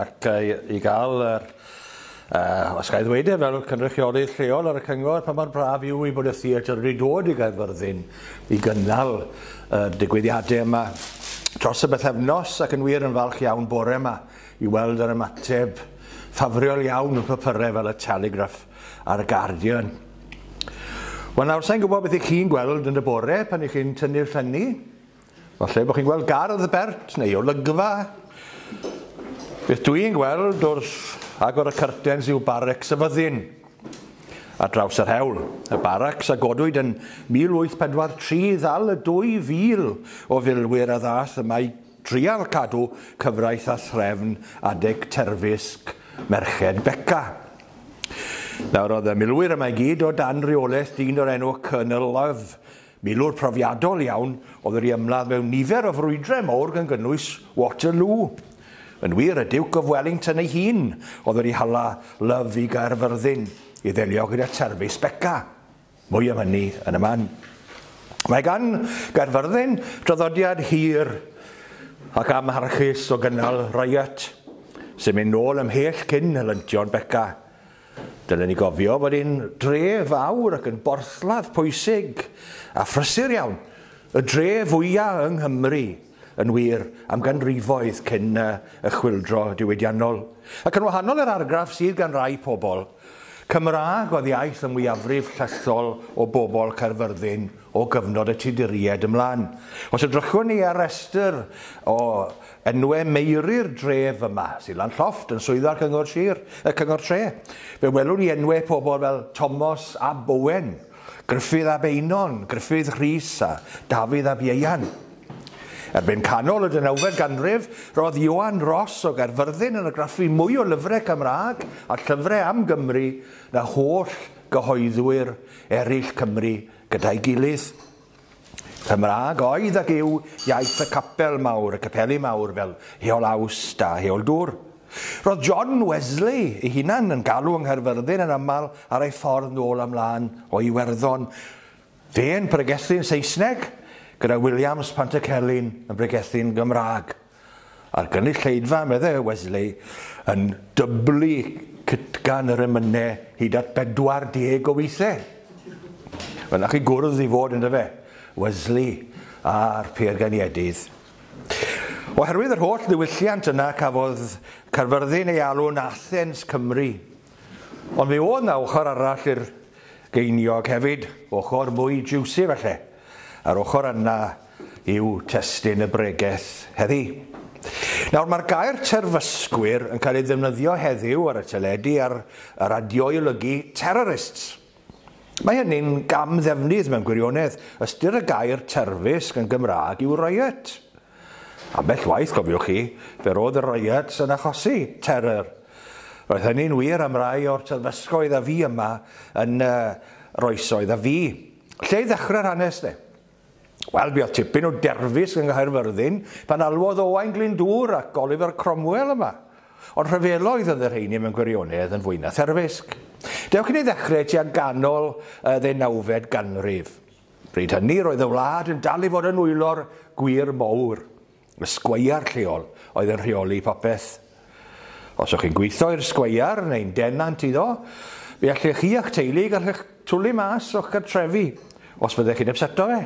Ac i gael yr, uh, os gael ddweud e, fel cynrychiolydd lleol ar y cyngor, pa mor braf yw i bod y theatr wedi dod i Gaerfyrddin i gynnal y digwyddiadau yma dros y bythefnos ac yn wir yn falch iawn bore yma i weld yr ymateb ffafriol iawn yn papyrau fel y Telegraph a'r Guardian. Wel nawr, sa'n gwybod beth i chi'n gweld yn y bore pan i chi'n tynnu'r llynnu, Falle bod chi'n gweld gardd bert neu olygfa. Beth dw i'n gweld wrth agor y cyrtens yw barrecs y fyddin ar draws yr hewl. Y barracs a godwyd yn 1843 ddal y 2,000 o filwyr a ddath yma i drial cadw cyfraith a threfn adeg terfysg Merched Beca. Nawr oedd y milwyr yma i gyd o dan reolaeth dyn o'r enw Colonel Love, Milwr profiadol iawn oedd yr i ymladd mewn nifer o frwydrau mowr gan gynnwys Waterloo. Yn wir, y Duke of Wellington ei hun oedd yr i hala Love i Gaerfyrddin i ddelio gyda terfysg Beca. Mwy am hynny yn y man. Mae gan Gaerfyrddin draddodiad hir ac amharchus o gynnal riot, sy'n mynd nôl ymhell cyn helyntion Beca. Dylen ni gofio fod ein dref fawr ac yn borthladd pwysig a phrysur iawn, y dref fwya' yng Nghymru, yn wir, am ganrifoedd cyn y Chwyldro Diwydiannol. Ac yn wahanol i'r argraff sydd gan rai pobl, Cymraeg oedd iaith y mwyafrif llethol o bobl Caerfyrddin o gyfnod y Tuduriaid ymlaen. Os edrychwn ni ar restr o Enwe Meiri'r dref yma, Silan Llofft, yn swyddfa Cyngor Sir, y Cyngor Tre. Fe welwn ni enwe pobl fel Tomos ab Owen, Gruffydd ab Einon, Gruffydd Rhys a Dafydd ab Ieuan. Erbyn canol y deunawfed ganrif, roedd Ioan Ros o Gaerfyrddin yn argraffu mwy o lyfrau Cymraeg a llyfrau am Gymru na holl gyhoeddwyr eraill Cymru gyda'i gilydd. Cymraeg oedd ac yw iaith y capel mawr, y capeli mawr fel Heol Awst a Heol Dwr. Roedd John Wesley ei hunan yn galw yng Nghaerfyrddin yn aml ar ei ffordd nôl a mlaen o Iwerddon. Fe'n pregethu'n Saesneg gyda Williams Pantycelyn yn bregethu'n Gymraeg. A'r gynulleidfa, meddai Wesley, yn dyblu cytgan yr emynau hyd at 40 o weithiau. Mae'n nach i gwrdd i fod yn dyfe, Wesley a'r Piergainiedydd. Oherwydd yr holl ddiwylliant yna cafodd Caerfyrddin ei alw'n Athens Cymru. Ond fe oedd na ochr arall i'r geiniog hefyd, ochr mwy jiwsi falle, a'r ochr yna yw testun y bregeth heddi. Nawr, mae'r gair terfysgwyr yn cael ei ddefnyddio heddiw ar y teledu a'r y radio i olygu terrorists. Mae hynny'n gam ddefnydd mewn gwirionedd. Ystyr y gair terfysg yn Gymraeg yw riot. Ambell waith, cofiwch chi, fe roedd y riots yn achosi terror. Roedd hynny'n wir am rai o'r terfysgoedd a fi yma yn uh, roesoedd a fi. Lle i ddechrau'r hanes, de? Wel, buodd tipyn o derfysg yng Nghaerfyrddin pan alwodd Owain Glyndŵr ac Oliver Cromwell yma. Ond rhyfeloedd oedd y rheiny mewn gwirionedd yn fwy na therfysg. Dewch i ni ddechrau tua ganol y ddeunawfed ganrif. Bryd hynny roedd y wlad yn dal i fod yn nwylo'r gwŷr mowr. Y sgweiar lleol oedd yn rheoli popeth. Os o'ch chi'n gweithio i'r sgweiar neu'n denant iddo, fe allech chi a'ch teulu gallech twlu mas o'ch cartrefi os fyddech chi'n ypseto fe.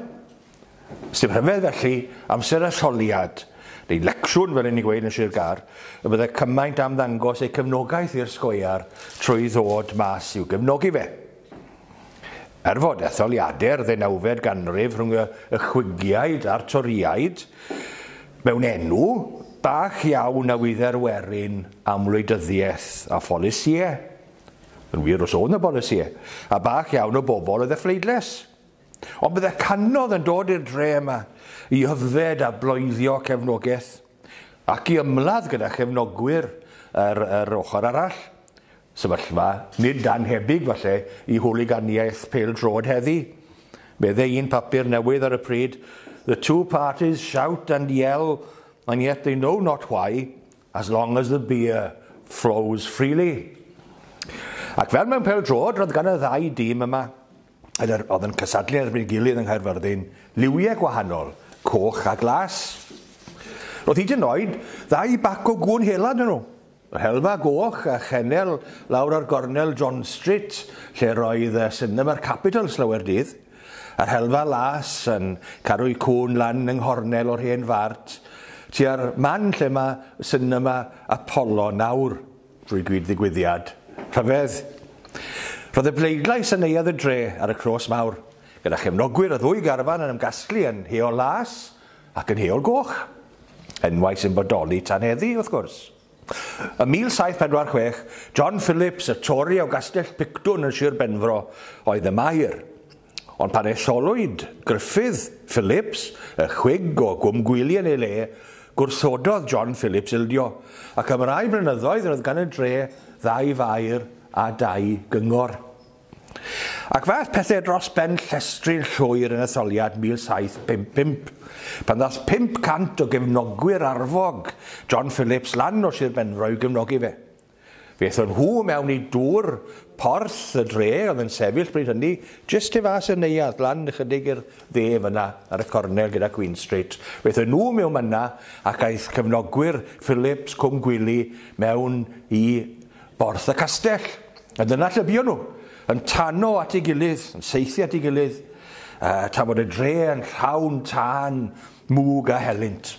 Sdim rhyfedd felly, amser a sioliad, neu lecsiwn fel yn ni'n gweud yn Sir Gâr, y byddai cymaint am ddangos eu cefnogaeth i'r sgweiar trwy ddod mas i'w gefnogi fe. Er fod etholiadau'r ddeunawfed ganrif rhwng y Chwingiaid a'r Torïaid mewn enw bach iawn a wydde'r werin am wleidyddiaeth a pholisïau, yn wir os oedd 'na bolisïau, a bach iawn o bobl oedd y phleidles. Ond bydde canodd yn dod i'r dre yma i yfed a bloeddio cefnogaeth ac i ymladd gyda chefnogwyr yr, yr ochr arall. Sefyllfa nid danhebyg falle i hwliganiaeth pêl-droed heddi, meddai un papur newydd ar y pryd, The two parties shout and yell and yet they know not why, as long as the beer flows freely. Ac fel mewn pêl-droed, roedd gan y ddau dîm yma, yn yr, oedd yn cysadlu erbyn ei gilydd yng Nghaerfyrddin, liwiau gwahanol, coch a glas. Roedd hyd yn oed ddau bac o gŵn hela 'da nhw. Rhelfa goch a chennel lawr ar gornel John Street, lle roedd y Cinema'r Capitol slawer dydd. A rhelfa las yn caru'i cŵn lan yng nghornel o'r hen fart, tua'r man lle mae Cinema Apollo nawr, drwy gyd ddigwyddiad rhyfedd. Roedd y bleidlais yn Neuadd y Dre ar y Clôs Mawr, gyda chefnogwyr y ddwy garfan yn ymgasglu yn heol las, Ac yn Heol Goch. Enwau sy'n bodoli tan heddi, wrth gwrs. Ym 1746, John Phillips, y Tori o Gastell Pictwn yn Sir Benfro, oedd y maer. Ond pan etholwyd Gruffydd Phillips, y chwig o Gwm Gwyli yn ei le, gwrthododd John Phillips ildio, ac am rai blynyddoedd roedd gan y dre ddau faer a dau gyngor. Ac fe aeth pethau dros ben llestri'n llwyr yn etholiad 1755, pan ddaeth 500 o gefnogwyr arfog John Phillips lan o Sir Benfro i'w gefnogi fe. Fe aethon nhw mewn i dŵr porth y dre oedd yn sefyll bryd hynny jyst tu fas i'r neuadd, lan ychydig i'r dde fan'na ar y cornel gyda Queen Street. Fe aethon nhw mewn fan'na ac aeth cefnogwyr Phillips, Cwm Gwili, mewn i Porth y Castell, a dyna lle buon nhw, yn tano at ei gilydd, yn saethu at ei gilydd, tra bod y dre yn llawn tân, mwg a helynt.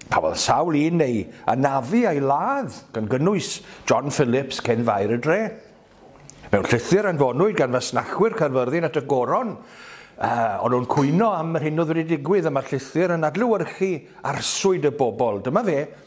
Cafodd sawl un ei anafu a'i ladd, gan gynnwys John Phillips, cyn faer y dre. Mewn llythyr anfonwyd gan fasnachwyr Caerfyrddin at y Goron, uh, o'n nhw'n cwyno am yr hyn oedd wedi digwydd a mae'r llythyr yn adlewyrchu arswyd y bobl. Dyma fe,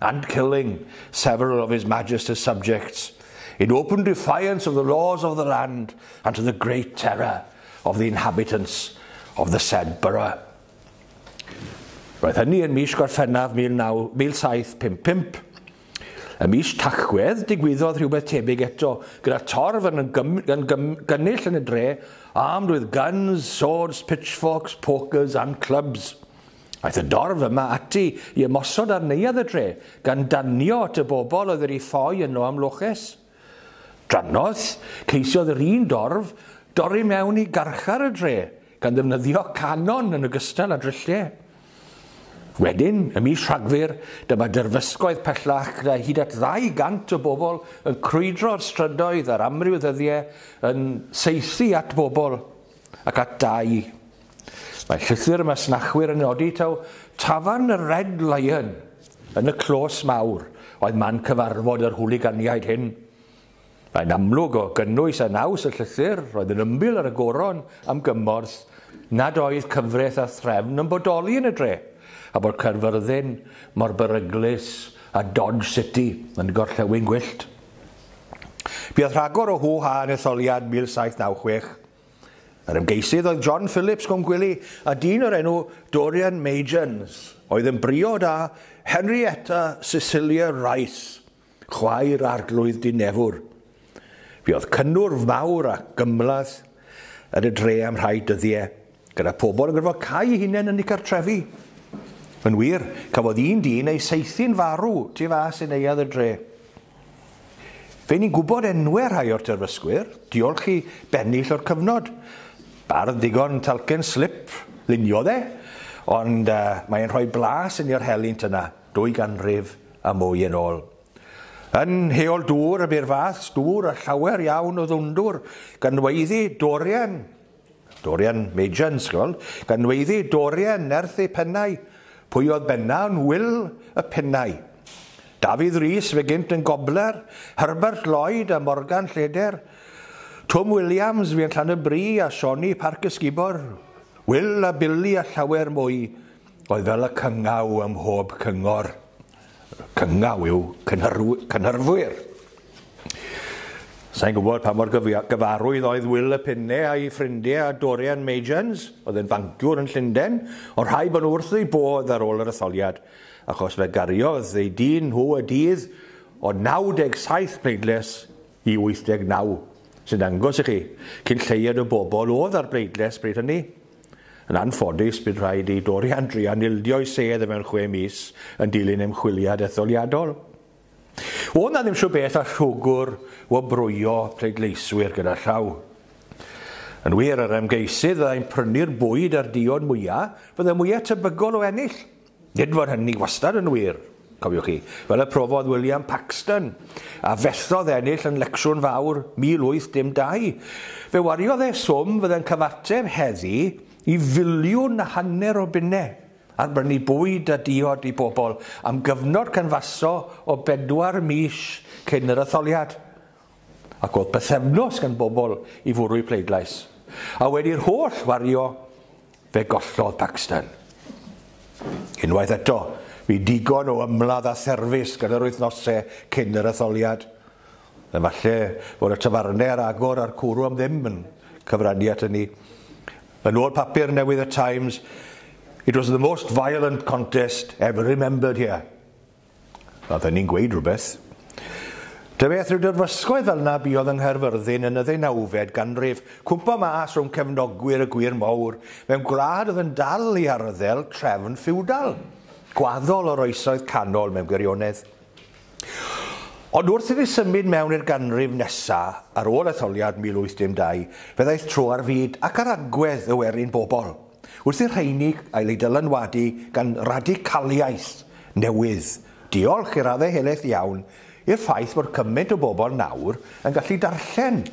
and killing several of his Majesty's subjects, in open defiance of the laws of the land, and to the great terror of the inhabitants of the said borough. Roedd hynny yn mis Gorffennaf 1755. Y mis Tachwedd digwyddodd rhywbeth tebyg eto, gyda torf yn, gym, yn gym, gynnull yn y dre, armed with guns, swords, pitchforks, pokers and clubs. Aeth y dorf yma ati i ymosod ar neuadd y dre, gan danio at y bobl oedd wedi ffoi yno am loches. Drannoeth, ceisiodd yr un dorf dorri mewn i garchar y dre, gan ddefnyddio canon yn ogystal â drylliau. Wedyn, y mis Rhagfyr, dyma derfysgoedd pellach gyda hyd at 200 o bobl yn crwydro'r strydoedd ar amryw ddyddiau yn saethu at bobl. ac at dai. Mae llythyr y masnachwyr yn nodi taw tafarn y Red Lion yn y clos mawr oedd man cyfarfod yr hwliganiaid hyn. Mae'n amlwg o gynnwys a naws y llythyr roedd yn ymbil ar y goron am gymorth nad oedd cyfraith a threfn yn bodoli yn y dre, a bod Caerfyrddin mor beryglus a Dodge City yn gorllewin gwyllt. Buodd rhagor o hŵ-ha yn etholiad 1796. Yr ymgeisydd oedd John Phillips Cwmgwili a dyn o'r enw Dorian Magens oedd yn briod â Henrietta Cecilia Rice, chwaer Arglwydd Dinefwr. Buodd cynnwrf mawr a gymhleth yn y dre am rhai dyddie. Gyda phobl yn gorfod cau eu hunain yn eu cartrefi. Yn wir, cafodd un dyn ei saethu'n farw tu fas i neuadd y dre. Fe ni'n gwybod enwau rhai o'r terfysgwyr, diolch i bennill o'r cyfnod. Bardd ddigon talcen slip, lunio dde, ond uh, mae'n rhoi blas yn i'r helynt yna, dwy ganrif a mwy yn ôl. Yn heol dŵr y bu'r fath, dŵr a llawer iawn o ddwndwr, ganweiddi, dorian, Dorian Major yn sgol, gan weiddi Dorian nerth ei phennau, pwy oedd benna yn wyl y pennau. Dafydd Rees fe gynt yn gobler, Herbert Lloyd a Morgan Lleder, Twm Williams fi yn Llanybri a Sioni Parc Ysgubor, Wil a Bili a llawer mwy. Roedd fel y cyngaw ym mhob cyngor, cyngaw yw cynhyrfwyr. Sa'n gwybod pa mor gyfarwydd oedd Wil y Penne a'i ffrindiau a Dorian Majans, oedd yn fanciwr yn Llundain, ond rhaid bod nhw wrth eu bodd ar ôl yr etholiad, achos fe gariodd eu dyn nhw y dydd o 97 pleidles i 89, sy'n dangos i chi cyn lleied o bobl oedd ar bleidles bryd hynny. Yn anffodus, bydd rhaid i Dorian druan ildio'i sedd mewn chwe mis yn dilyn ymchwiliad etholiadol. O na ddim siw beth a rhwgwr wobrwyo pleidleiswyr gyda llaw. Yn wir, yr ymgeisydd fyddai'n prynu'r bwyd a'r diod mwyaf, fyddai mwyaf tebygol o ennill. Nid fod hynny wastad yn wir, cofiwch chi, fel y profodd William Paxton, a fethodd ennill yn Lecsiwn Fawr 1812. Fe wariodd e swm fydde'n cyfateb heddi i filiwn a hanner o bunnau ar brynu bwyd a diod i bobl am gyfnod canfaso o bedwar mis cyn yr etholiad. Ac oedd bythefnos gan bobl i fwrw'u pleidlais, a wedi'r holl wario, fe gollodd Paxton. Unwaith eto, fu digon o ymladd a therfys gan yr wythnosau cyn yr etholiad. Efallai fod y tafarnau ar agor a'r cwrw am ddim yn cyfrannu at hynny. Yn ôl papur newydd y Times, It was the most violent contest ever remembered here. Mae hynny'n gweud rhywbeth. Da beth rhyw dirfysgoedd fel na buodd yng Nghaerfyrddin yn y ddeunawfed ganrif, cwmpo mas rhwng cefnogwyr y gwir mowr, mewn gwlad oedd yn dal i arddel trefn ffiwdal, gwaddol o'r oesoedd canol mewn gwirionedd. Ond wrth iddi symud mewn i'r ganrif nesa, ar ôl etholiad 1812, fe ddaeth tro ar fyd ac ar agwedd y werin bobl. Wrth i'r rheini gael eu dylanwadu gan radicaliaeth newydd, diolch i raddau helaeth iawn i'r ffaith bod cymaint o bobl nawr yn gallu darllen.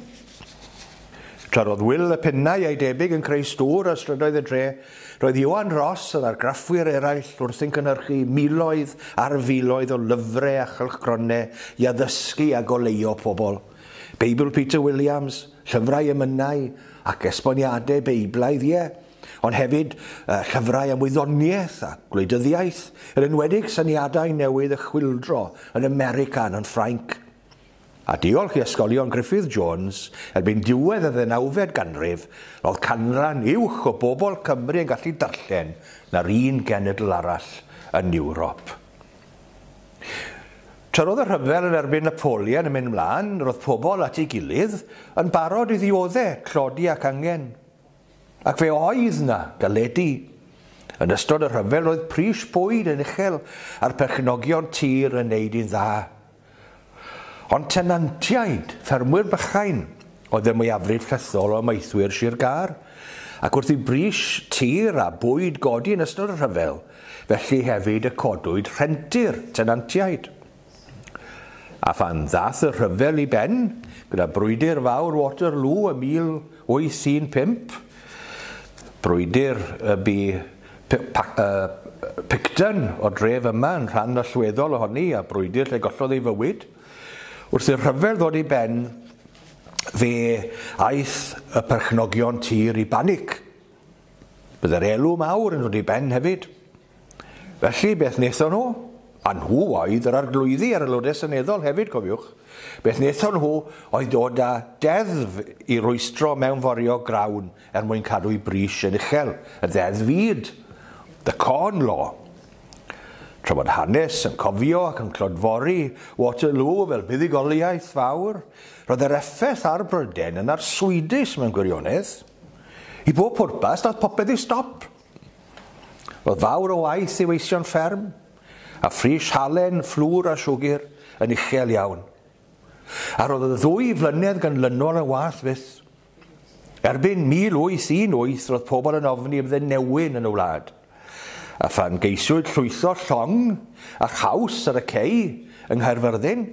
Tra roedd Wil y Pennau a'i debyg yn creu stŵr ar strydoedd y dre, roedd Ioan Ross a'r argraffwyr eraill wrthi'n cynhyrchu miloedd ar filoedd o lyfrau a chylchgronau i addysgu a goleuo pobl. Beibl Peter Williams, Llyfrau emynau ac esboniadau Beiblaidd, ie, ond hefyd uh, llyfrau am wyddoniaeth a gwleidyddiaeth, yn enwedig syniadau newydd y chwildro yn America yn Ffrainc. A diolch i ysgolion Griffith Jones, erbyn diwedd y ddeunawfed ganrif, roedd canran uwch o bobl Cymru yn gallu darllen na'r un genedl arall yn Ewrop. Tra roedd y rhyfel yn erbyn Napoleon yn mynd mlaen, roedd pobl at ei gilydd yn barod i ddiodde, tlodi ac angen. Ac fe oedd na galedi. Yn ystod y rhyfel roedd pris bwyd yn uchel a'r perchnogion tir yn neud yn dda. Ond tenantiaid, ffermwyr bychain, oedd y mwyafrif llethol o amaethwyr Sir Gâr, ac wrth i bris tir a bwyd godi yn ystod y rhyfel, felly hefyd y codwyd rhenti'r tenantiaid. A phan ddath y rhyfel i ben, gyda brwydr fawr Waterloo ym 1815, brwydr y bu Picton o'r dref yma yn rhan allweddol ohoni a brwydr lle gollodd ei fywyd. Wrth i'r rhyfel ddod i ben, fe aeth y perchnogion tir i banic. Byddai'r elw mawr yn dod i ben hefyd. Felly, beth wnaethon nhw? A nhw oedd yr arglwyddi a'r aelodau seneddol hefyd, cofiwch. Beth wnaethon nhw oedd dod â deddf i rwystro mewnforio grawn er mwyn cadw i bris yn uchel y Ddeddf Fyd, The Corn Law. Tra bod hanes yn cofio ac yn clodfori Waterloo fel buddugoliaeth fawr, roedd yr effaith ar Bryden yn arswydus mewn gwirionedd. I bob pwrpas, daeth popeth i stop. Roedd fawr o waith i weision fferm, a phris halen, fflwr a siwgr yn uchel iawn. A roedd y ddwy flynedd ganlynol yn waeth fyth. Erbyn 1818 roedd pobl yn ofni fydde newyn yn y wlad, a phan geisiwyd llwytho llong a chaws ar y cei yng Nghaerfyrddin,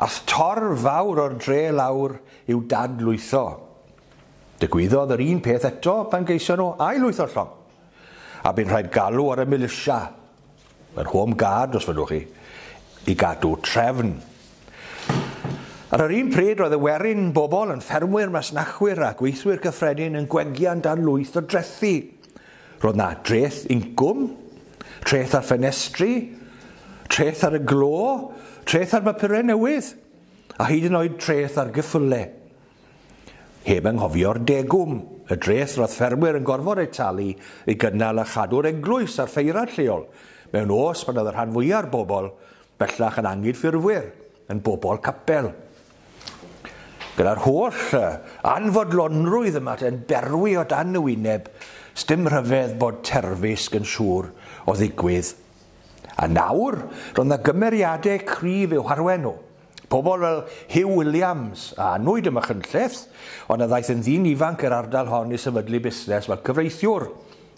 ath torf fawr o'r dre lawr i'w dad-lwytho. Digwyddodd yr un peth eto pan geisio nhw ail-lwytho'r llong, a bu'n rhaid galw ar y milisia Yr Home Guard, os fyddwch chi, i gadw trefn. Ar yr un pryd, roedd y werin bobl yn ffermwyr, masnachwyr a gweithwyr cyffredin yn gwegian dan lwyth o drethi. Roedd na dreth incwm, treth ar ffenestri, treth ar y glo, treth ar bapurau newydd, a hyd yn oed treth ar gyffyle. Heb anghofio'r degwm, y dreth roedd ffermwyr yn gorfod eu talu i gynnal a chadw'r eglwys a'r ffeirad lleol, mewn oes pan oedd y rhan fwya'r bobl, bellach yn anghydffurfwyr, yn bobl capel. Gyda'r holl anfodlonrwydd y mae yn berwi o dan y wyneb, sdim rhyfedd bod terfysg yn siŵr o ddigwydd. A nawr, roedd 'na gymeriadau cryf i'w harwain nhw. Pobl fel Huw Williams a anwyd ym Machynlleth, ond a ddaeth yn ddyn ifanc i'r ardal hon i sefydlu busnes fel cyfreithiwr.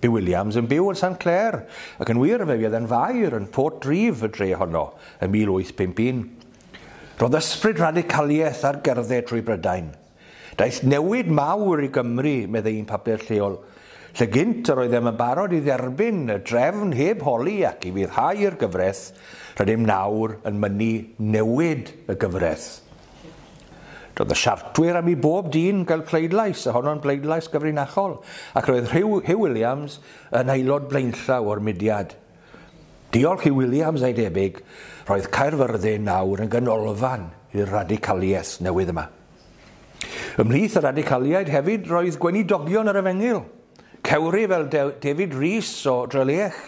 Bu Williams yn byw yn Sant Clair, ac yn wir, fe fuodd e'n faer yn Port Reeve, y dre honno, yn 1851. Roedd ysbryd radicaliaeth ar gerdded trwy Brydain. Daeth newid mawr i Gymru, meddai un papur lleol, lle gynt yr oeddem yn barod i dderbyn y drefn heb holi ac i foddhau i'r gyfraith, rydym nawr yn mynnu newid y gyfraith. Doedd y Siartwyr am i bob dyn gael pleidlais, a honno'n bleidlais gyfrinachol, ac roedd Rhyw, Huw Williams yn aelod blaenllaw o'r mudiad. Diolch i Williams a'i debyg, roedd Caerfyrddin nawr yn ganolfan i'r radicaliaeth newydd yma. Ymhlith y radicaliaid hefyd roedd gweinidogion yr Efengyl, Cewri fel David Rees o Drelech,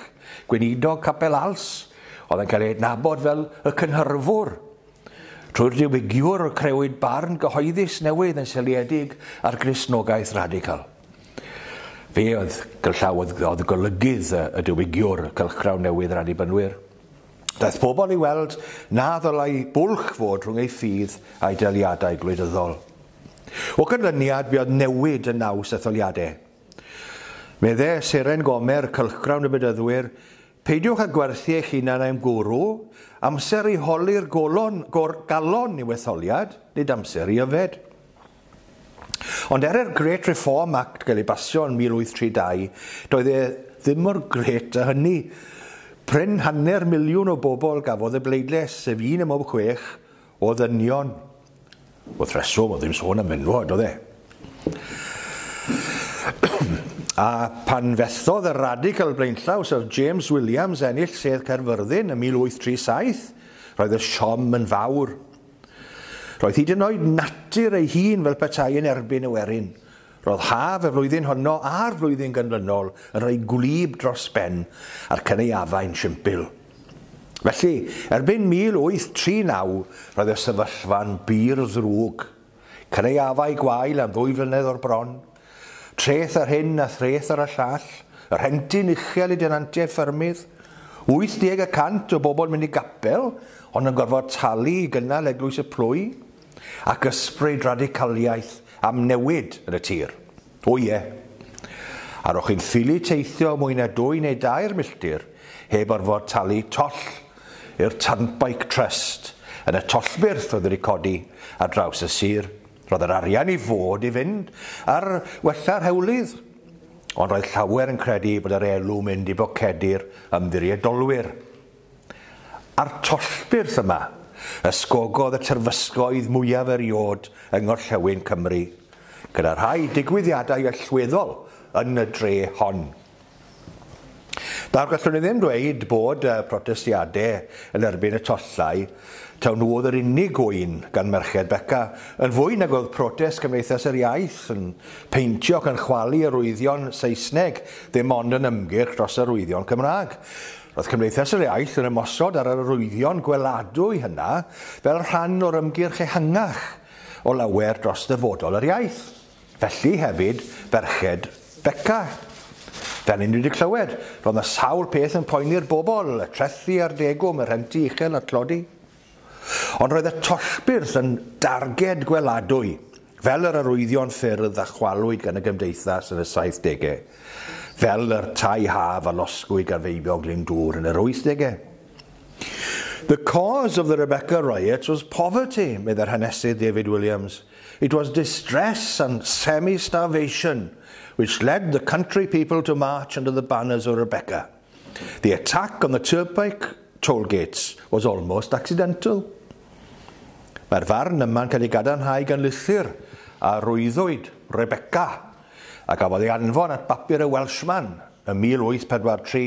gweinidog Capel Als, oedd yn cael ei adnabod fel y cynhyrfwr. Trwy'r diwygiwr crewyd barn gyhoeddus newydd yn seliedig ar Gristnogaeth radical. Fe oedd gyrllawdd oedd golygydd y diwygiwr cylchgrawn newydd yr Annibynwyr. Daeth pobl i weld na ddylai bwlch fod rhwng ei ffydd a'i daliadau gwleidyddol. O ganlyniad, buodd newid yn naws etholiadau. Medde Seren Gomer, cylchgrawn y Bedyddwyr, Peidiwch â gwerthu eich hunan i'm gwrw, amser i holi'r golon, gor, galon i'w etholiad, nid amser i yfed. Ond er i'r Great Reform Act gael ei basio yn 1832, doedd e ddim mor grêt â hynny. Prin hanner miliwn o bobl gafodd y bleidlais, sef un ym mhob chwech o ddynion. Wrth reswm, oedd ddim sôn am fenywod, oedd e? A pan fethodd y radical blaenllaw Sir James Williams ennill sedd Caerfyrddin yn 1837, roedd y siom yn fawr. Roedd hyd yn oed natur ei hun fel petai yn erbyn y werin. Roedd haf y flwyddyn honno a'r flwyddyn ganlynol yn rhoi gwlyb dros ben a'r cynaeafau'n simpl. Felly, erbyn 1839, roedd y sefyllfa'n bur ddrwg. Cynaeafau gwael am ddwy flynedd o'r bron, Treth ar hyn a threth ar y llall, y rhentyn uchel i denantiaid ffermydd, 80 y cant o bobl yn mynd i gapel ond yn gorfod talu i gynnal Eglwys y Plwy, ac ysbryd radicaliaeth am newid yn y tir. O ie. A ro'ch chi'n ffili teithio mwy na dwy neu dair milltir heb orfod talu toll i'r Turnpike Trust yn y tollbyrth oedd wedi codi ar draws y sir, Roedd yr arian i fod i fynd ar wella rhewlydd, ond roedd llawer yn credu bod yr elw mynd i bocedi'r ymddiriedolwyr. A'r tollbyrth yma, ysgogodd y terfysgoedd mwyaf eriod yng ngorllewin Cymru, gyda rhai digwyddiadau allweddol yn y dre hon. Nawr, gallwn ni ddim dweud bod y protestiadau yn erbyn y tollau taw nhw oedd yr unig gŵyn gan Merched Beca, yn fwy nag oedd protest Cymdeithas yr Iaith yn peintio ac yn chwalu arwyddion Saesneg ddim ond yn ymgyrch dros arwyddion Cymraeg. Roedd Cymdeithas yr Iaith yn ymosod ar yr arwyddion gweladwy hynna fel rhan o'r ymgyrch ehangach o lawer dros ddyfodol yr iaith. Felly hefyd ferched Beca. Fel i ni wedi clywed, roedd yna sawl peth yn poeni'r bobl, y trethi a'r degwm, y rhenti uchel a'r tlodi. Ond roedd y tollbyrth yn darged gweladwy, fel yr arwyddion ffyrdd a chwalwyd gan y gymdeithas yn y saithdegau, fel yr tai haf a losgwyd gan feibion Glyndŵr yn yr wythdegau. The cause of the Rebecca riots was poverty, meddai'r hanesydd David Williams. It was distress and semi-starvation which led the country people to march under the banners of Rebecca. The attack on the turnpike toll gates was almost accidental. Mae'r farn yma'n cael ei gadarnhau gan lythyr a rwyddwyd Rebecca a gafodd ei anfon at bapur y Welshman ym 1843.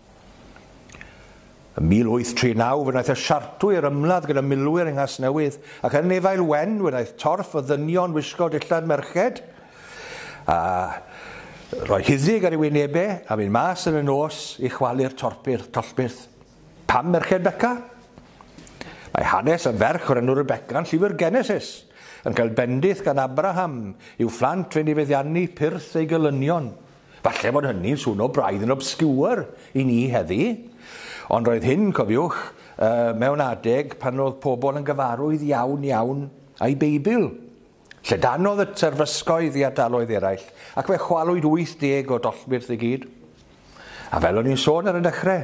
Ym 1839 fe wnaeth y Siartwyr ymladd gyda milwyr yng Nghasnewydd, ac yn Nefail Wen fe wnaeth torf y ddynion wisgo dillad merched, a rhoi huddug ar ei wynebau, a mynd mas yn y nos i chwalu'r torpyr, tollbyrth. Pam merched Beca? Mae hanes y ferch o'r enw Rebecca yn llyfr Genesis, yn cael bendith gan Abraham i'w phlant fe'n ei feddiannu pyrth ei gelynion. Falle fod hynny'n swno braidd yn obscure i ni heddi, ond roedd hyn, cofiwch, mewn adeg pan oedd pobl yn gyfarwydd iawn iawn â'i Beibl. Llydanodd y terfysgoedd i ardaloedd eraill, ac fe chwalwyd 80 o dollbyrth i gyd. A fel o'n i'n sôn ar y dechrau,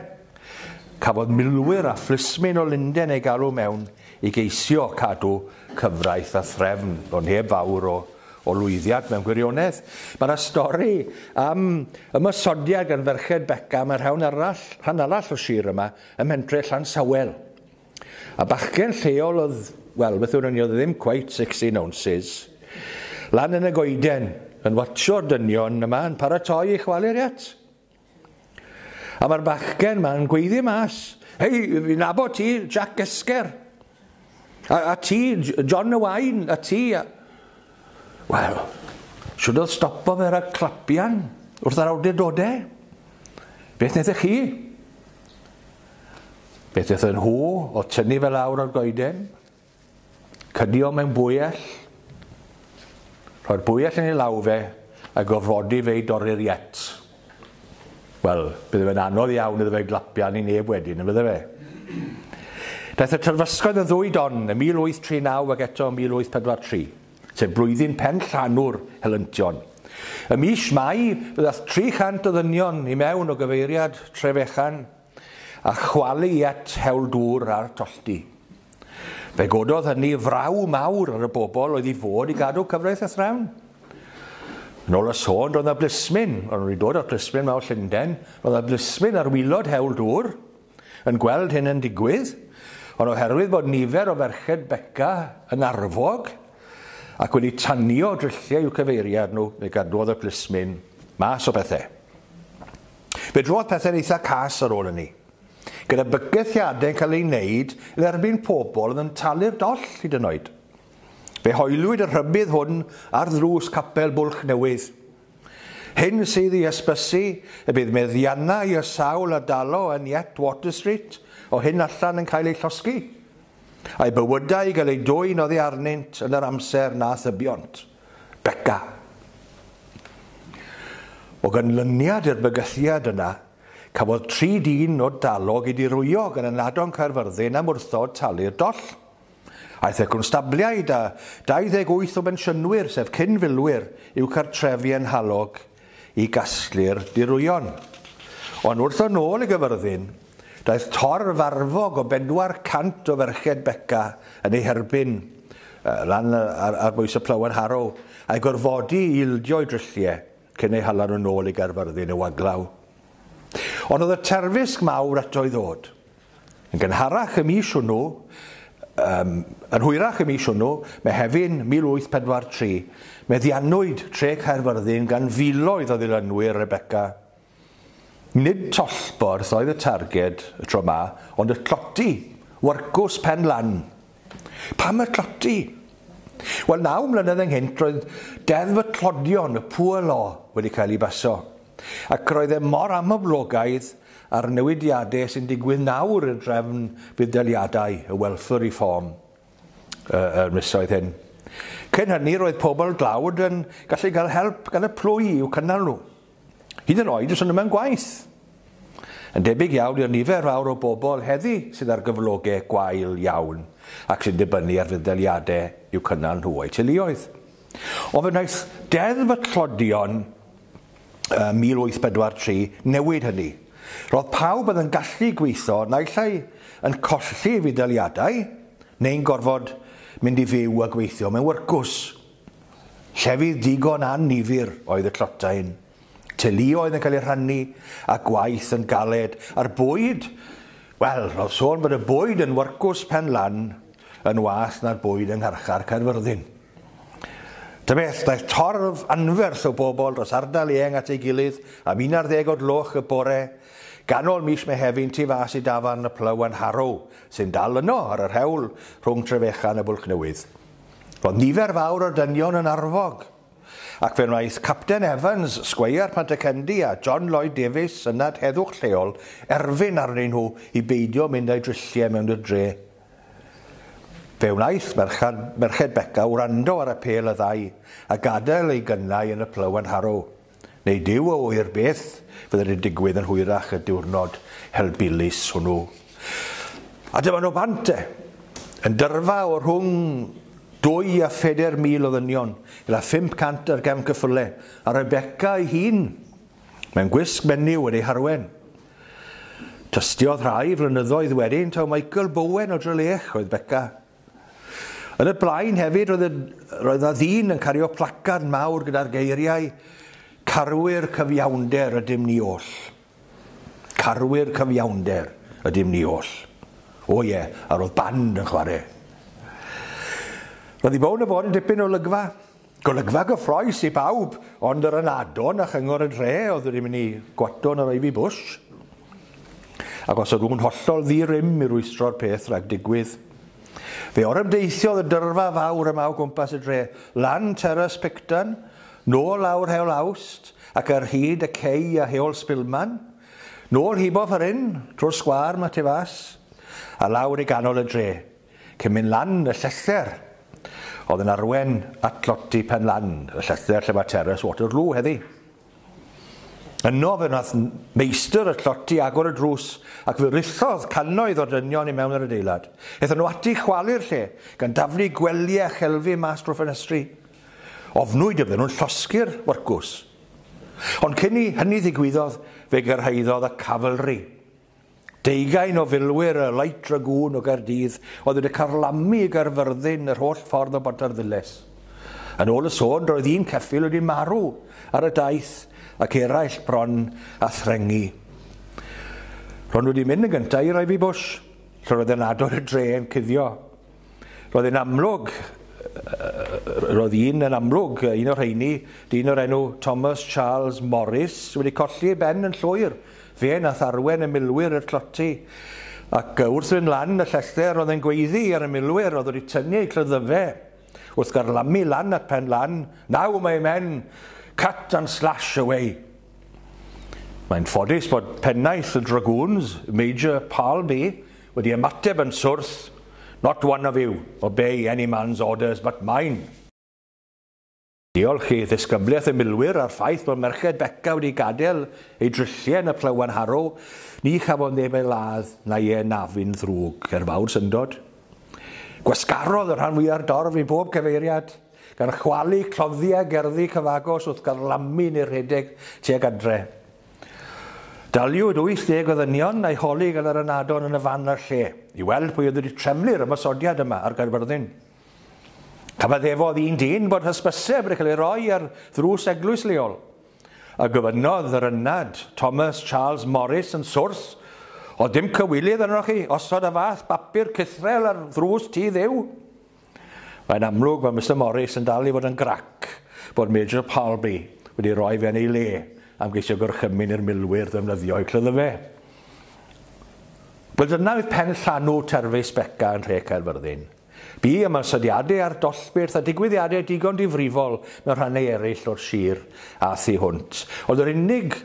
Cafodd milwyr a phlismyn o Lunden eu galw mewn i geisio cadw cyfraith a threfn, ond heb fawr o o lwyddiad mewn gwirionedd. Mae yna stori am ymosodiad gan ferched Beca am y rhawn arall, rhan arall o sir yma, ym mhentre Llansawel. A bachgen lleol oedd, wel, beth yw'r oedd ddim cweit 16 ounces, lan yn y goeden, yn watsio'r dynion yma yn paratoi i chwalu'r iat. A mae'r bachgen ma'n gweiddi mas, Hei, fi nabod ti, Jack Gesger. A, a ti, John y Wain, a ti. A... Wel, siwr oedd stopo fe rhag clapian wrth yr awdurdodau. Beth wnaethoch chi? Beth wnaethon nhw o tynnu fel awr o'r goeden? Cydio mewn bwyell. Rhoi'r bwyell yn ei law fe a gofrodi fe i dorri'r iet. Wel, bydde fe'n anodd iawn iddo fe glapio arni neb wedyn, yn fydde fe? Daeth y terfysgoedd yn ddwy don ym 1839 ac eto ym 1843, sef blwyddyn pen llanw'r helyntion. Ym mis Mai, fe ddaeth 300 o ddynion i mewn o gyfeiriad Trefechan, a chwalu i at hewl dŵr a'r tolldy. Fe gododd hynny fraw mawr ar y bobl oedd i fod i gadw cyfraith a threfn. Yn ôl y sôn, roedd yna blismyn, ond wedi dod â'r plismyn mawr Llundain, roedd yna blismyn ar wylod hewl dŵr yn gweld hyn yn digwydd, ond oherwydd bod nifer o ferched Beca yn arfog ac wedi tanio drilliau i'w cyfeiriad nhw, fe gadwodd y plismyn mas o bethau. Fe drodd pethau'n eitha cas ar ôl hynny, gyda bygythiadau'n cael eu wneud yn erbyn pobl oedd yn talu'r doll hyd yn oed. Fe hoelwyd y rhybudd hwn ar ddrws capel Bwlch Newydd. Hyn sydd i ysbysu y bydd meddiannau y sawl a dalo yn Yet Water Street o hyn allan yn cael eu llosgi, a'u bywydau i gael eu dwyn oddi arnynt yn yr amser na thybiont. Beca. O ganlyniad i'r bygythiad yna, cafodd tri dyn o dalog eu dirwyo gan ynadon Caerfyrddin am wrthod talu'r doll. Aeth y constabliaid a 28 o bensiynwyr, sef cyn-filwyr, i'w cartrefi yn Nhalog. i gasglu'r dirwyon. Ond wrth ddod nôl i Gyfyrddin, daeth torf arfog o bedwar cant o ferched Beca yn ei herbyn, lan ar, ar bwys y Plowen Harrow, a'i gorfodi i ildio i drylliau cyn eu hala nhw'n ôl i Gaerfyrddin i'w aglaw. Ond oedd y terfysg mawr eto i ddod. Yn gynharach y mis hwnnw, yym, yn hwyrach y mis hwnnw, Mehefin 1843, meddiannwyd Tre Caerfyrddin gan filoedd o ddilynwyr Rebecca. Nid tollborth oedd y targed y tro 'ma, ond y tloti, wyrcws pen lan. Pam y tloti? Wel, naw mlynedd ynghynt roedd Deddf y Tlodion, y Poor Law, wedi cael ei baso. Ac roedd e mor amyblogaidd a'r newidiadau sy'n digwydd nawr i'r drefn fudd-daliadau y welswr i ffôn yr misoedd hyn. Cyn hynny roedd pobl dlawd yn gallu cael help gan y plwy i'w cynnal nhw. Hyd yn oed os ydym mewn gwaith. Yn debyg iawn i'r nifer fawr o bobl heddi sydd ar gyflogau gwael iawn ac sy'n dibynnu ar fudd-daliadau i'w cynnal nhw o'u teuluoedd. Ond fe wnaeth Deddf y Tlodion 1843 newid hynny. Roedd pawb oedd yn gallu gweithio naill ai yn colli ei fuddaliadau neu'n gorfod mynd i fyw a gweithio mewn wyrcws. Llefydd digon annifyr oedd y Tlotain. Teuluoedd yn cael eu rhannu, a gwaith yn galed, a'r bwyd, wel, roedd sôn bod y bwyd yn Warcus Pen Lan yn waeth na'r bwyd yng ngharchar Caerfyrddin. Ta beth, daeth torf anferth o bobl dros ardal eang at ei gilydd am 11 o gloch y bore, ganol mis Mehefin tu fas i dafarn y Plywen Harrow, sy'n dal yno ar yr hewl rhwng Trefechan a Bwlch Newydd. Roedd nifer fawr o'r dynion yn arfog, Ac fe wnaeth Capten Evans, Sgweier Pantycendi a John Lloyd Davies, Synad Heddwch lleol, erfyn arnyn nhw i beidio mynd â'u drilliau mewn i'r dre. Fe wnaeth merchad, Merched Beca wrando ar apêl y ddau a gadael eu gynnau yn y Plough and Harrow. Nid yw o wir beth fydd wedi digwydd yn hwyrach y diwrnod helbulus hwnnw. A dyma nhw bant e, yn dyrfa o rhwng dwy a pheder mil o ddynion, gyda 500 ar gefn cyffyle, a Rebecca ei hun, mewn gwisg menyw wedi ei harwen. Tystiodd rhai flynyddoedd wedyn, taw Michael Bowen o Drelech oedd Becca. Yn y blaen hefyd roedd, roedd na ddyn yn cario placard mawr gyda'r geiriau Carwyr cyfiawnder ydym ni oll. Carwyr cyfiawnder ydym ni oll. O ie, yeah, a roedd band yn chwarae. Roedd i bown y fod yn dipyn o lygfa. Golygfa gyffroes i bawb, ond yr ynadon a chyngor y dre oedd wedi mynd i gwatw'n yr Ivy Bush. Ac os ydw'n hollol ddi-rym i rwystro'r peth rhag digwydd, fe orymdeithiodd y dyrfa fawr yma o gwmpas y dre, lan Terrace Picton, nôl lawr Heol Awst, ac ar hyd y cei a Heol Spilman, nôl hiboff yr ynn, trwy'r sgwâr 'ma tu fas, a lawr i ganol y dre. Cemyn Lan y Llestr oedd yn arwain at dlodi Pen Lan y Llestr lle mae Terrace Waterloo heddi. Yno fe wnaeth meistr y lloti agor y drws ac fe rithodd cannoedd o dynion i mewn yr adeilad. Ethon nhw ati chwalu'r lle, gan daflu gwely a chelfi mas drwy ffenestri. Ofnwyd y bydden nhw'n llosgi'r wyrcws. Ond cyn i hynny ddigwyddodd, fe gyrhaeddodd y Cavalry. Deugain o filwyr y Light Dragoon o Gaerdydd oedd wedi carlamu i Gaerfyrddin yr holl ffordd o Bontarddulais. Yn ôl y sôn, roedd un ceffyl wedi marw ar y daith ac eraill bron â threngu. Ro'n wedi mynd yn gyntaf i Ivy Bush, lle roedd yn adrodd y dre yn cuddio. Roedd yn amlwg, roedd un yn amlwg, un o'r rheini, dyn o'r enw Thomas Charles Morris, wedi colli ei ben yn llwyr, fe nath arwen y milwyr i'r tloti, ac wrth fynd lan y llestr roedd e'n gweiddi ar y milwyr oedd wedi tynnu eu clyddyfe, wrth garlamu lan at pen lan, Now my men, cut and slash away! Mae'n ffodus bod pennaeth y Dragoons, Major Palby, Wedi ymateb yn swrth, Not one of you obey any man's orders but mine! Diolch i ddisgyblaeth y milwyr a'r ffaith bod merched Beca wedi gadael eu drilliau yn y Plywen Harrow, ni chafodd neb ei ladd na'i anafu'n ddrwg, er fawr syndod. Gwasgarodd y rhan fwya'r dorf i bob cyfeiriad, gan chwalu cloddiau gerddi cyfagos wrth garlamu neu rhedeg tuag adre. Daliwyd 80 o ddynion a'i holi gan yr ynadon yn y fan a'r lle, i weld pwy oedd wedi trefnu'r ymosodiad yma ar Gaerfyrddin. Cyfaddefodd un dyn bod hysbyseb wedi cael ei roi ar ddrws eglwys leol, a gofynnodd yr ynad Thomas Charles Morris yn swrs, Oedd dim cywilydd arnoch chi osod y fath bapur cythrel ar ddrws tŷ Dduw? Mae'n amlwg bod Mister Morris yn dal i fod yn grac bod Major Palby wedi rhoi fe yn ei le am geisio gorchymyn i'r milwyr ddefnyddio eu clyddyfe. Wel dyna oedd pen llanw Terfys Beca yn nhre Caerfyrddin. Bu am ysodiadau ar dollbyrth a digwyddiadau digon difrifol mewn rhannau eraill o'r sir a thu hwnt. Ond yr unig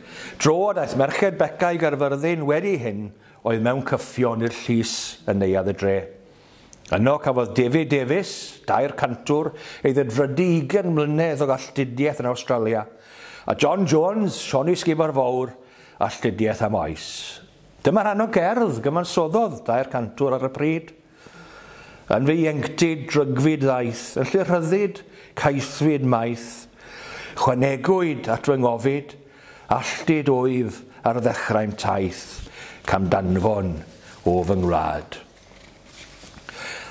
dro a daeth merched Beca i Gaerfyrddin wedi hyn oedd mewn cyffion i'r llys yn neuadd y dre. Yno cafodd David Davies, dair cantwr, ei ddedfrydu ugain mlynedd o galltudiaeth yn Awstralia, a John Jones, Sioni Sgibar Fowr, alltudiaeth am oes. Dyma rhan o gerdd gyfansoddodd dair cantwr ar y pryd. Yn fy ieuenctid drygfyd ddaeth, yn llu rhyddid, caethfyd maeth. Chwanegwyd at fy ngofid, alltud wyf ar ddechrau'n taith, camdanfon o fy ngwlad.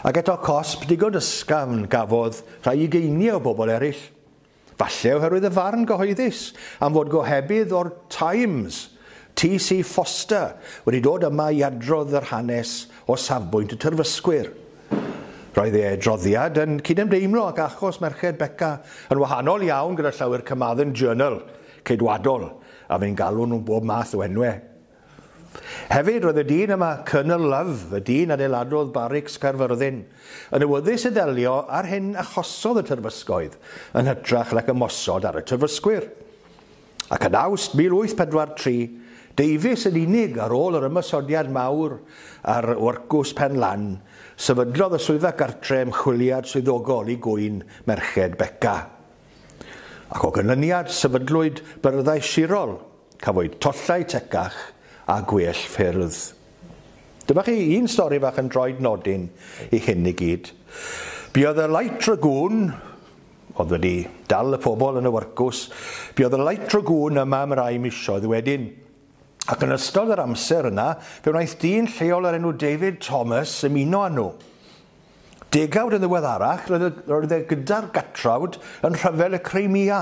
Ac eto cosb digon ysgafn gafodd rhai ugeiniau o bobl eraill. Falle oherwydd y farn gyhoeddus am fod gohebydd o'r Times, TC Foster, wedi dod yma i adrodd yr hanes o safbwynt y tyrfysgwyr. Roedd ei adroddiad yn cydymdeimlo ac achos merched Beca yn wahanol iawn gyda llawer Carmarthen Journal ceidwadol a fu'n galw nhw bob math o enwau. Hefyd, roedd y dyn yma, Colonel Love, y dyn adeiladodd Barics Caerfyrddin, yn awyddus i ddelio â'r hyn achosodd y terfysgoedd, yn hytrach nac ymosod ar y terfysgwyr. Ac yn Awst 1843, deufis yn unig ar ôl yr ymosodiad mawr ar Wrcws Pen Lan, sefydlodd y Swyddfa Gartre ymchwiliad swyddogol i gŵyn merched Beca. Ac o ganlyniad, sefydlwyd byrddau sirol, cafwyd tollau tecach a gwell ffyrdd. Dyma chi un stori fach yn droed nodyn i hyn i gyd. Buodd y Light Dragoon, oedd wedi dal y pobl yn y wyrcws, buodd y Light Dragoon yma am rai misoedd wedyn. Ac yn ystod yr amser yna, fe wnaeth dyn lleol o'r enw David Thomas ymuno â nhw. Degawd yn ddiweddarach, roedd e gyda'r Gatrawd yn Rhyfel y Crimea.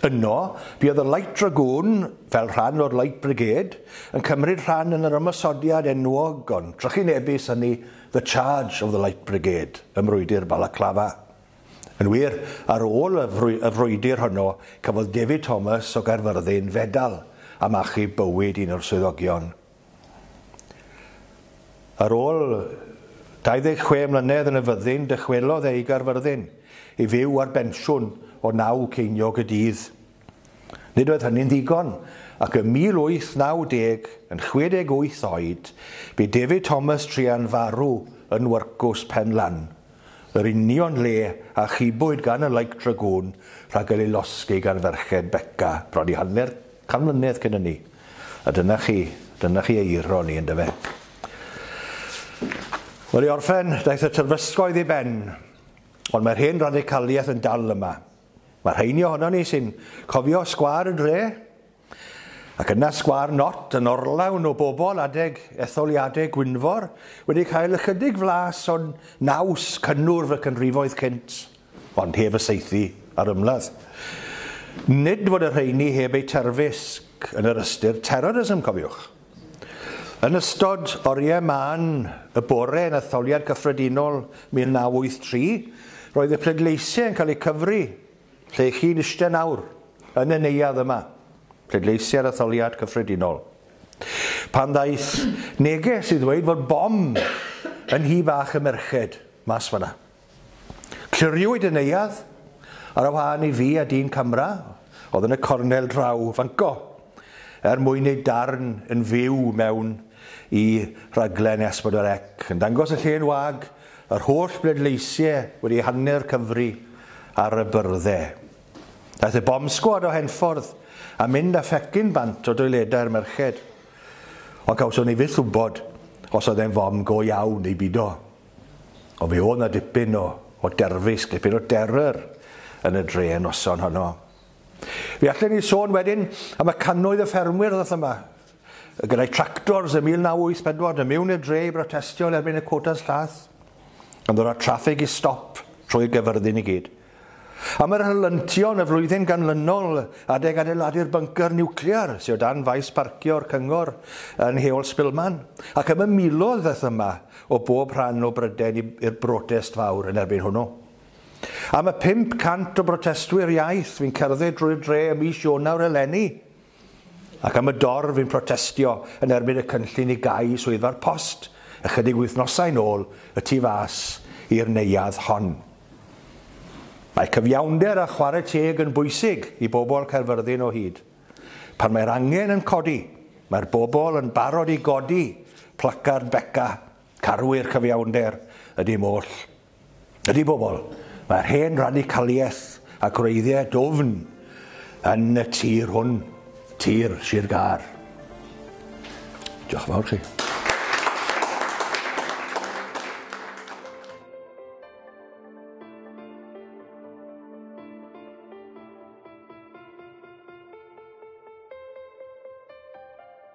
Yno, buodd y Light Dragoon, fel rhan o'r Light Brigade, yn cymryd rhan yn yr ymosodiad enwog ond trychinebus hynny The Charge of the Light Brigade ym mrwydr Balaclava. Yn wir, ar ôl y frwydr honno, cafodd David Thomas o Gaerfyrddin fedal am achub bywyd un o'r swyddogion. Ar ôl 26 mlynedd yn y fyddin, dychwelodd e i Gaerfyrddin i fyw ar bensiwn o naw ceiniog y dydd. Nid oedd hynny'n ddigon, ac ym 1890, yn 68 oed, bu David Thomas Trean farw yn Wyrcws Penlan, yr union lle a chibwyd gan y Like Dragoon rhag cael ei losgi gan ferched Beca bron i hanner Can mlynedd cyn ynny. A dyna chi, dyna chi ei iro ni, yndyfe? Wel, i orffen, daeth y terfysgoedd i ben, ond mae'r hen radicaliaeth yn dal yma. Mae rheini ohono ni sy'n cofio sgwâr y dre, ac yna sgwâr Not yn orlawn o bobl adeg etholiadau Gwynfor wedi cael ychydig flas o'n naws cynnwrf y canrifoedd cynt. ond heb y saethu a'r ymladd. Nid fod y rheiny heb eu terfysg yn yr ystyr terrorism, cofiwch. Yn ystod oriau mân y bore yn Etholiad Cyffredinol 1983, roedd y pleidleisiau yn cael eu cyfri lle chi'n eistedd nawr, yn y neuadd yma, pleidleisiau'r Etholiad Cyffredinol. Pan ddaeth neges i ddweud fod bom yn nhŷ bach y merched mas fan'na. Cliriwyd y neuadd, ar y wahân i fi a dyn camera oedd yn y cornel draw fanco, er mwyn neud darn yn fyw mewn i raglen S4C, yn dangos y llên wag, yr holl bleidleisie wedi hanner Cymru ar y byrdde. Daeth y bomb sgwad o Henffordd a mynd a phecyn bant o doiledau'r merched, ond cawson ni fyth wybod os oedd e'n fom go iawn neu bido. Ond fe oedd 'na dipyn o, o derfysg, dipyn o derror yn y dre y noson honno. Fe allen ni sôn wedyn am y cannoedd y ffermwyr ddoth yma, gyda'i tractors ym 1984 yn mewn i'r dre i brotestio yn erbyn y cwotas llath, yn ddod â'r traffig i stop trwy gyfyrddin i gyd. Am yr helyntion yn y flwyddyn ganlynol adeg adeiladu'r byngcyr niwclear sydd o dan faes parcio'r cyngor yn Heol Spilman, ac ymymulodd fyth yma o bob rhan o Brydain i'r brotest fawr yn erbyn hwnnw. Am y 500 o brotestwyr iaith fu'n cerdded drwy'r dre ym mis Ionawr eleni, ac am y dorf yn protestio yn erbyn y cynllun i gau Swyddfa'r Post ychydig wythnosau'n ôl y tu fas i'r neuadd hon. Mae cyfiawnder a chwarae teg yn bwysig i bobl Caerfyrddin o hyd. Pan mae'r angen yn codi, mae'r bobl yn barod i godi placard Beca, carwy'r cyfiawnder, y dim oll. Ydy bobl, mae'r hen radicaliaeth a gwreiddiau dwfn yn y tir hwn, tir Sir Gâr. Diolch yn fawr chi.